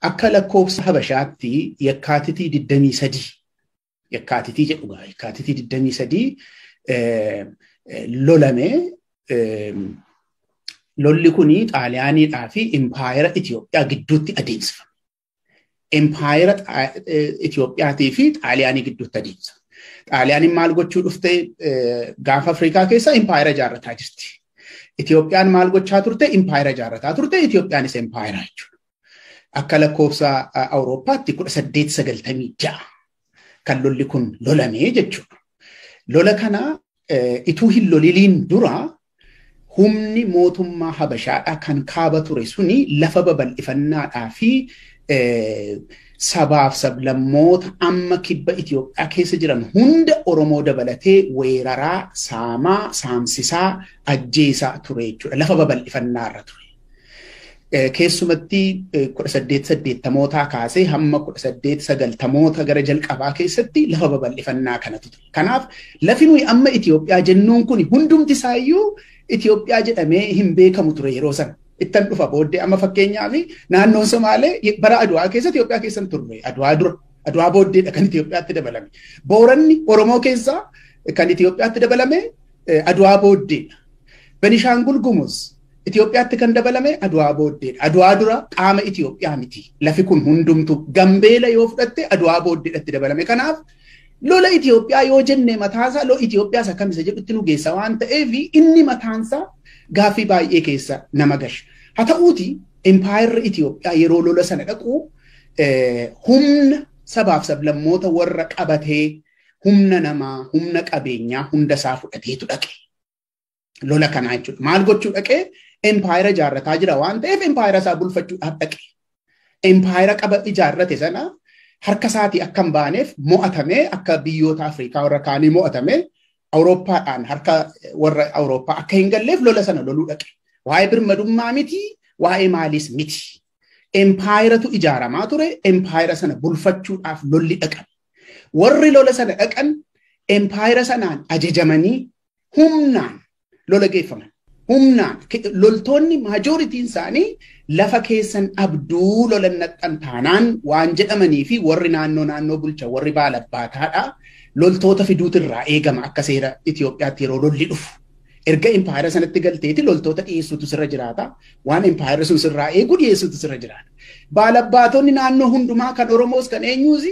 Akka lakkoofsa Habashaatti yakkaatitii 23 yakkaatitii jedhu gaa yakkaatitii 23 lolame lolli kun xaaliyaaniidhaa fi impaayera Itoophiyaa gidduutti adeemsifame. Empaayera Itoophiyaatii fi Xaaliyaanii gidduutti adeemsa. Xaaliyaaniin maal gochuu dhufte gaafa Afrikaa keessa empaayera ijaarrataa jirti. Itoophiyaan maal gochaa turte empaayera ijaarrataa turte Itoophiyaanis empaayera jechuudha. Akka lakkoofsa Awurooppaatti kudha saddeet sagaltamii ja'a kan lolli kun lolamee jechuudha. Lola kana ituu hin loliliin dura humni mootummaa Habashaadhaa kan kaaba ture suni lafa babal'ifannaadhaa fi sabaaf sablammoota amma kibba Itoophiyaa keessa jiran hunda Oromoo dabalatee weeraraa, saamaa, saamsisaa, ajjeesaa ture jechuudha. Lafa babal'ifannaa irra ture. Keessumatti kudha saddeet saddeettamootaa kaasee hamma kudha saddeet sagaltamoota gara jalqabaa keessatti lafa babal'ifannaa kanatu ture. Kanaaf lafi nuyi amma Itoophiyaa jennuun kun hundumti isaayyuu Itoophiyaa jedhamee hin beekamu ture yeroo sana. Ittan dhufa booddee amma fakkeenyaaf naannoon Somaalee bara Adwaa keessa Itoophiyaa keessa hin turre. Adwaa dura. Adwaa booddeedha kan Itoophiyaatti dabalame. Booranni Oromoo keessaa kan Itoophiyaatti dabalame Adwaa booddeedha. Benishaangul Gumuz Itoophiyaatti kan dabalame Adwaa booddeedha. Adwaa dura qaama Itoophiyaa miti. Lafi kun hundumtu Gambeela yoo fudhatte Adwaa booddeedhatti dabalame. Kanaaf Lola Itoophiyaa yoo jenne mataasaa lola Itoophiyaas akkam isa jedhutti nu geessa waan ta'eef inni mataansaa gaaffii baay'ee keessa nama gasha. Haa ta'uuti impaayerri Itoophiyaa yeroo lola sana dhaqu humna sabaaf sablammoota warra qabatee humna namaa, humna qabeenyaa hunda isaa fudhateetu dhaqe. Lola kanaa jechuudha. Maal gochuu dhaqee empaayera ijaarrataa jira waan ta'eef empaayera isaa bulfachuudhaaf dhaqe. Empaayera qaba ijaarrate sana harka isaatii akka hin baaneef mo'atamee akka biyyoota Afrikaa warra kaanii mo'atamee Awurooppaadhaan harka warra Awurooppaa akka hin galleef lola sana loluu dhaqe. Waa'ee birmadummaa miti, waa'ee maaliis miti. Empaayeratu ijaaramaa ture, empaayera sana bulfachuudhaaf lolli dhaqan. Warri lola sana dhaqan empaayera sanaan ajajamanii humnaan lola geeffaman. Humnaan loltoonni maajooritiin isaanii lafa keessan dhabduu lolan naxxan taanaan waan jedhamanii fi warri naannoo naannoo bulcha warri baalabbaataadha loltoota fiduutu irraa eegama akka seera Itoophiyaatti yeroo lolli dhufu. Erga impaayera sanatti galteeti loltoota dhiyeessuutu sirra jiraata. Waan impaayera sun sirraa eegu dhiyeessuutu sirra jiraata. Baalabbaatonni naannoo hundumaa kan Oromoos kan eenyuus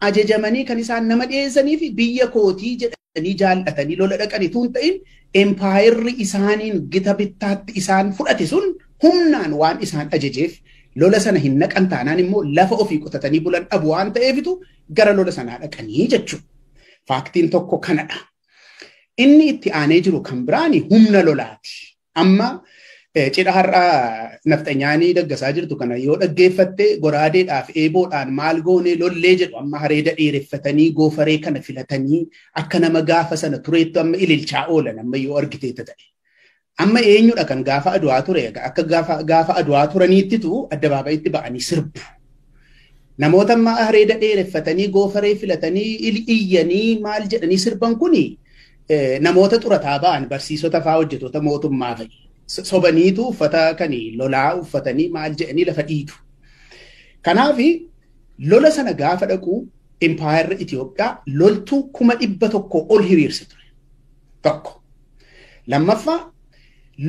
ajajamanii kan isaan nama dhiyeessanii fi biyya kootii jedhanii jaallatanii lola dhaqan utuu hin ta'in empaayerri isaaniin gita bittaatti isaan fudhate sun humnaan waan isaan ajajeef lola sana hin naqan taanaan immoo lafa ofii qotatanii bulan dhabu waan ta'eefitu gara lola sanaa dhaqanii jechuudha. Faaktiin tokko kanadha. Inni itti aanee jiru kan biraani humna lolaati. Amma cidha har'a nafxanyaanii daggasaa jirtu kana yoo dhaggeeffatte goraadeedhaaf eeboodhaan maal goonee lollee jedhu amma hareeda dheereffatanii goofaree kana filatanii akka nama gaafa sana tureettu amma ililchaa oolan amma yoo argiteetta ta'e. Amma eenyudha kan gaafa aduwaa ture akka gaafa aduwaa turaniittitu addabaabayitti ba'anii sirbu. Namoota amma areeda dheereffatanii goofaree filatanii iyyanii maal jedhanii sirban kuni namoota xurataa ba'an barsiisota fa'aa hojjetoota mootummaa fa'i. Sobaniitu uffata kan lolaa uffatanii maal jedhanii lafa dhiitu. Kanaaf lola sana gaafa dhaqu impaayerri Itoophiyaa loltuu kuma dhibba tokko ol hiriirse ture. Tokko. Lammaffaa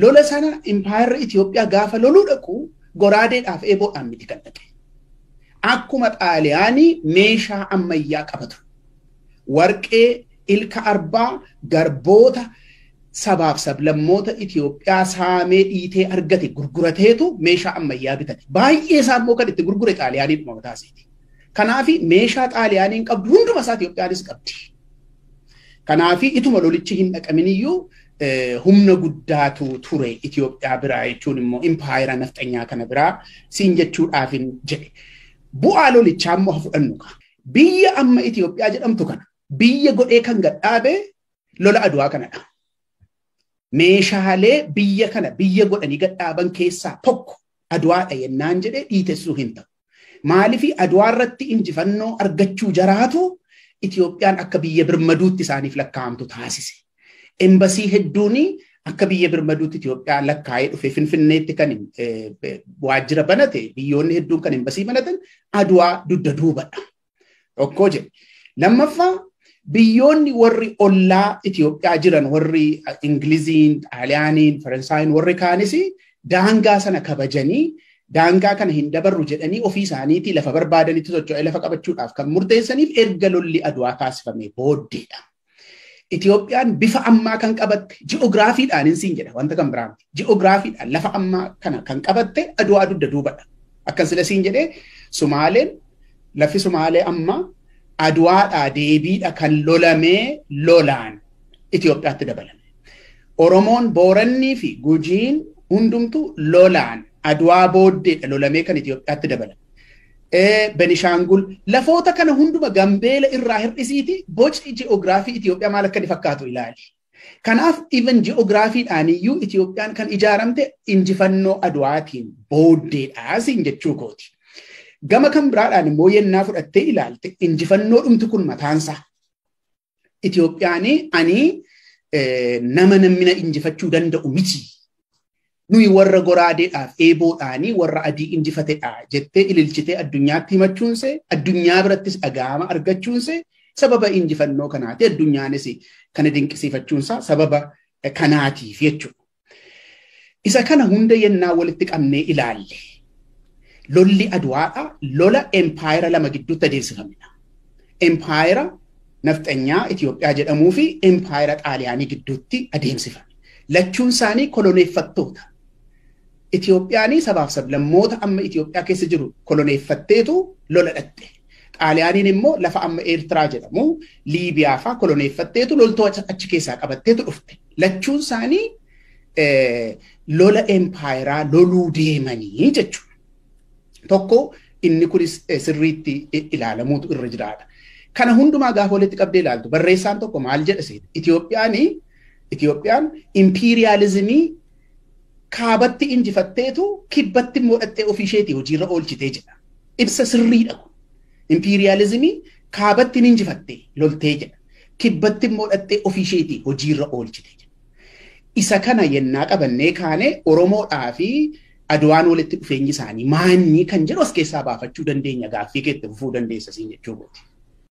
lola sana impaayerri Itoophiyaa gaafa loluu dhaqu goraadeedhaaf eeboodhaan miti kan dhaqe. Akkuma xaaliyaanii meeshaa ammayyaa qaba ture. Warqee, ilka arbaa, garboota sabaaf sablammoota Itoophiyaa saamee dhiitee argate gurgurateetu meeshaa ammayyaa bitate. Baay'ee isaa immoo kan itti gurgure xaaliyaanii dhuma mataa isaati. Kanaaf meeshaa xaaliyaaniin qabdu hunduma isaa Itoophiyaanis qabdi. Kanaafi ituma lolichi hin dhaqaminiyyuu humna guddaatu ture Itoophiyaa biraa jechuun immoo impaayera nafxanyaa kana biraa siin jechuudhaafin jedhe. Bu'aa lolichaa immoo fudhannu kaa. Biyya amma Itoophiyaa jedhamtu kana biyya godhee kan gadhaabe lola aduwaa kanadha. Meeshaalee biyya kana biyya godhanii gadhaaban keessaa tokko aduwaadha yennaan jedhee dhiitessuu hin ta'u. Maalifi Adwaa irratti injifannoo argachuu jaraatu Itoophiyaan akka biyya birmaduutti isaaniif lakkaa'amtu taasise. Embasii hedduun akka biyya birmaduutti Itoophiyaa lakkaa'ee dhufe Finfinneetti kan waajjira banate biyyoonni hedduun kan embasii banatan Adwaa dugda duubadha. Tokkoo jedhe. Lammaffaa biyyoonni warri ollaa Itoophiyaa jiran warri Ingiliziin, Xaaliyaaniin, Faransaayiin warri kaanis daangaa sana kabajanii daangaa kana hin dabarru jedhanii ofii isaaniitii lafa barbaadanitti socho'ee lafa qabachuudhaaf kan murteessaniif erga lolli aduwaa taasifamee booddeedha. Itoophiyaan bifa ammaa kan qabatte ji'oogiraafiidhaan hin siin jedha wanta kan biraa miti. Ji'oogiraafiidhaan lafa ammaa kana kan qabatte Adwaa dugda duubadha. Akkan sila siin jedhee Sumaaleen lafi Sumaalee ammaa Adwaadhaa deebiidha kan lolamee lolaan Itoophiyaatti dabalame. Oromoon Boorannii fi Gujiin hundumtuu lolaan Adwaa booddeedha lolamee kan Itoophiyaatti dabalame. Benishaangul, lafoota kana hunduma Gambeela irraa hir'isiiti boci ji'oogiraafii Itoophiyaa maal akka inni fakkaatu ilaali. Kanaaf even ji'oogiraafiidhaan iyyuu Itoophiyaan kan ijaaramte injifannoo Adwaatiin booddeedha siin jechuu kooti. Gama kan biraadhaan immoo yennaa fudhattee ilaalte injifannoo dhumti kun mataansaa Itoophiyaanii ani nama namni injifachuu danda'u miti. Nuyi warra goraadeedhaaf eeboodhaanii warra adii injifatedha jettee ililchitee addunyaatti himachuunsee addunyaa birattis dhaga'ama argachuunsee sababa injifannoo kanaati addunyaanis kana dinqisiifachuunsaa sababa kanaatiif jechuudha. Isa kana hunda yennaa walitti qabnee ilaalle lolli Adwaadha lola empaayera lama gidduutti adeemsifamedha. Empaayera nafxanyaa Itoophiyaa jedhamuu fi empaayera Xaaliyaanii gidduutti adeemsifame. Lachuun isaanii koloneeffattoota. Itoophiyaanii sabaaf sablammoota amma Itoophiyaa keessa jiru koloneeffatteetu lola dhaqxe. Xaaliyaaniin immoo lafa amma Eertiraa jedhamu Liibiyaa fa'aa koloneeffatteetu loltoota achi keessaa qabatteetu dhufte. Lachuun isaanii lola empaayeraa loluu deemanii jechuudha. Tokko inni kunis sirriitti ilaalamuutu irra jiraata. Kana hundumaa gaafa walitti qabdee ilaaltu barreessaan tokko maal jedha seeta? Itoophiyaan Itoophiyaan impiiriyaalizimii kaabatti injifatteetu kibbatti immoo dhattee ofii isheetii hojiirra oolchitee jedha. Ibsa sirriidha kun. Impiiriyaalizimii kaabatti ni injifatte loltee jedha. Kibbatti immoo dhattee ofii isheetii hojiirra oolchite jedha. Isa kana yennaa qabannee kaane Oromoodhaa fi Adwaan walitti dhufeenyi isaanii maanyi kan jedhu as keessaa baafachuu dandeenya gaaffii keetti fufuu dandeessa siin jechuu kooti.